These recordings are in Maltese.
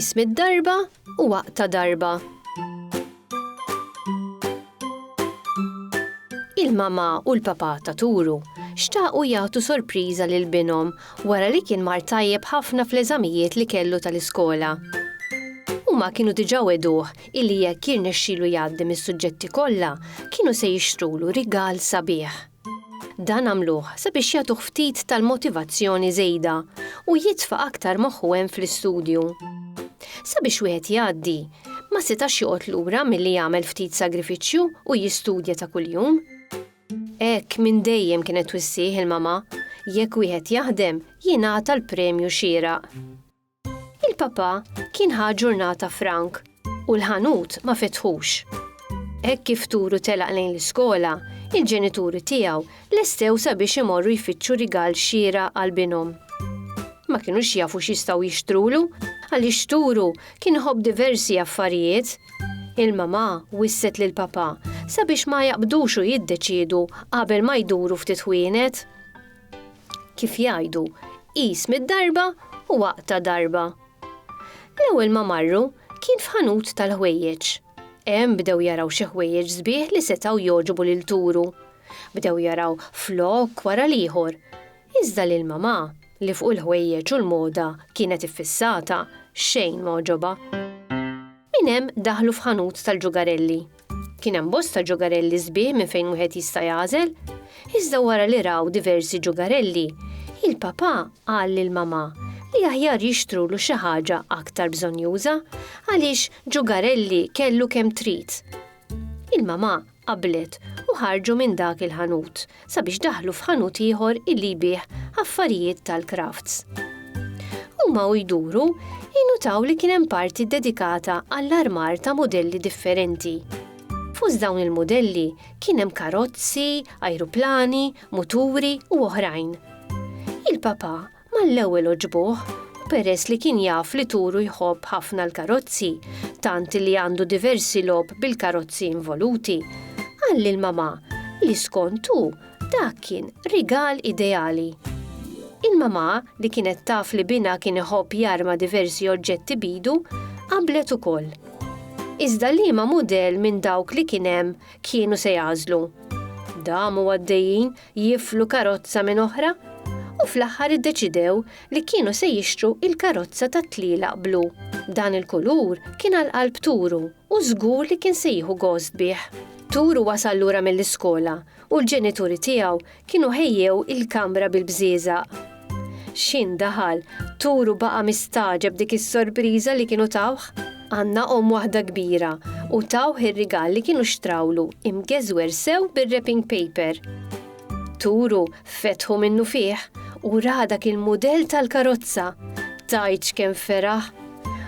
Qis mid-darba u waqta darba. Il-mama u l-papa ta' Turu xtaqu jagħtu sorpriża lil binhom wara li kien mar tajjeb ħafna fl-eżamijiet li kellu tal-iskola. Huma kienu diġà weduh illi jekk jirnexxilu jgħaddi mis-suġġetti kollha, kienu se jixtrulu rigal sabiħ. Dan għamluh sabiex jagħtuh ftit tal-motivazzjoni żejda u jitfa' aktar moħħu hemm fl-istudju. Sabiex wieħed jgħaddi, ma setax joqgħod lura milli jagħmel ftit sagrifiċċju u jistudja ta' kuljum. Hekk minn dejjem kienet twissih il-mamà, jekk wieħed jaħdem, jingħata l-premju xieraq. Il-Papa kien ħa ġurnata frank u l-ħanut ma fetħux. Hekk kif turu telaq lejn l-iskola, il-ġenituri tiegħu lestew sabiex imorru jfittxu rigal xieraq għal binhom. Ma kinux jafu x'jistgħu jixtrulu għaliex turu kien iħobb diversi affarijiet. Il-mamà wisset lill-Papa sabiex ma jaqbdux u jiddeċiedu qabel ma jduru ftit ħwienet. Kif jgħidu, qis mid-darba u aqta' darba. L-ewwel ma marru kien f'ħanut tal-ħwejjeġ. Hemm bdew jaraw xi ħwejjeġ sbieħ li setgħu jogħġbu lil Turu. Bdew jaraw flokk wara l-ieħor. Iżda lil Mamà, li fuq il-ħwejjeġ u l-moda kienet iffissata, xejn m'għoġobha. Minn hemm daħlu f'ħanut tal-ġugarelli. Kien hemm bosta ġogarelli sbieħ minn fejn wieħed jista' jagħżel, iżda wara li raw diversi ġogarelli, il-papà qal lil mamà li aħjar jixtrulu xi ħaġa aktar bżonnjuża għaliex ġogarelli kellu kemm trid. Il-mamà qablet u ħarġu minn dak il-ħanut sabiex daħlu f'ħanut ieħor illi jbigħ affarijiet tal-crafts. Huma u jduru, innutaw li kien hemm parti ddedikata għall-armar ta' mudelli differenti. Fost dawn il-mudelli kien hemm karozzi, ajruplani, muturi u oħrajn. Il-Papa Mal-ewwel għoġbuh, u peress li kien jaf li Turu jħobb ħafna l-karozzi, tant li għandu diversi logħob bil-karozzi involuti, qal lil mamà li skont hu dak kien rigal ideali. Il-mamà, li kienet taf li binha kien iħobb jarma diversi oġġetti b'idu, qablet ukoll. Iżda liema mudell minn dawk li kien hemm kienu se jagħżlu? Damu għaddejjin jiflu karozza minn oħra u fl-aħħar iddeċidew li kienu se jixtru il-karozza tat-tlielaq blu. Dan il-kulur kien għal qalb Turu u żgur li kien se jieħu gost bih. Turu wasal lura mill-iskola u l-ġenituri tiegħu kienu ħejjew il-kamra bil-bżieżaq. X'in daħal, Turu baqa' mistagħġeb dik is-sorpriża li kienu tawh. Għandna omm waħda kbira u tawh ir-rigal li kienu xtrawlu imgeżwer sew bir-wrapping paper. Turu fetħu minnufih u ra dak il-mudell tal-karozza. Tgħidx kemm feraħ!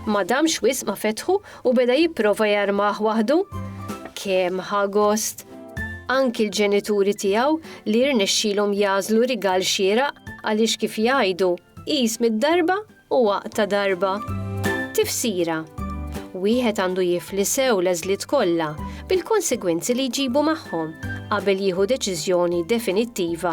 Ma damx wisq ma fetħu U beda jipprova jarmah waħdu? Kemm ħa gost! Anki l-ġenituri tiegħu li rnexxielhom jagħżlu rigal xieraq għaliex kif jgħidu, qis mid-darba u aqta' darba. Tifsira, Wieħed għandu jifli sew l-għeżliet kollha bil-konsegwenzi li jġibu magħhom qabel jieħu deċiżjoni definittiva